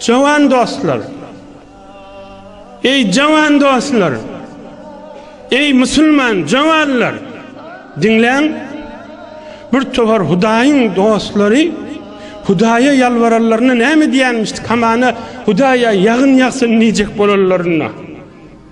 Jawan dostlar! Eý jawan dostlar! Eý musulman jawanlar! Diňläň! Bir towar Hudaýyň dostlary Hudaýa ýalbaranlaryna näme diýenmişdi? Hamana Hudaýa ýagyn ýagsyn diýjek bolanlaryna.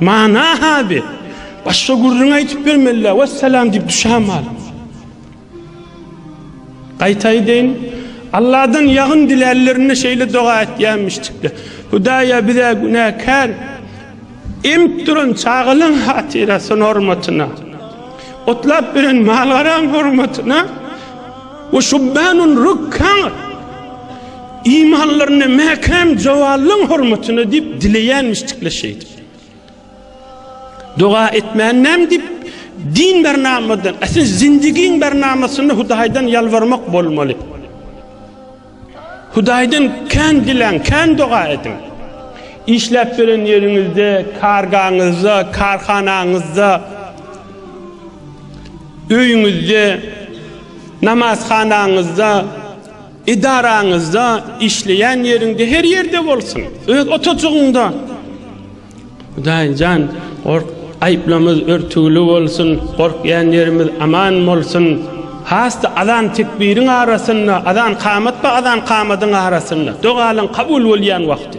Mana hady. Başga gürrüň aýtyp bermeli-dä. Wessalam diýip düşäm alyp. Gaýta aýdaýyn, Allahdan ýagyn dilärlerinde şeýle doga etýämişdikler. Hudaýa bize günäkär emip duran çagalaň hatyrasyny hormatyna, otlap beren mal-garaň hormatyna we şubbanun rukkan Imanlaryny mäkäm jowallaň hormatyna diýip dileýänmişdikler şeýdip. Doga etmän näme diýip din bernamadan, äsli zindigiň bernamasynda Hudaýdan ýalbarmak bolmaly. Hudaýdan kän diläň, kän doga ediň. Işläp beren ýeriňizde, kargaňyzda, karhanaňyzda, öýüňizde, namazhanaňyzda, Edaraňyzda, işleýän ýeriňde, her ýerde bolsun, öz otajygyňda. Hudaý jan, gork, aýplamyz örtügli bolsun, gorkýan ýerimiz aman bolsun. Has-da azan-tekbiriň arasynda, azan-kamat we azan-kamadyň arasynda, dogalyň kabul bolýan wagty.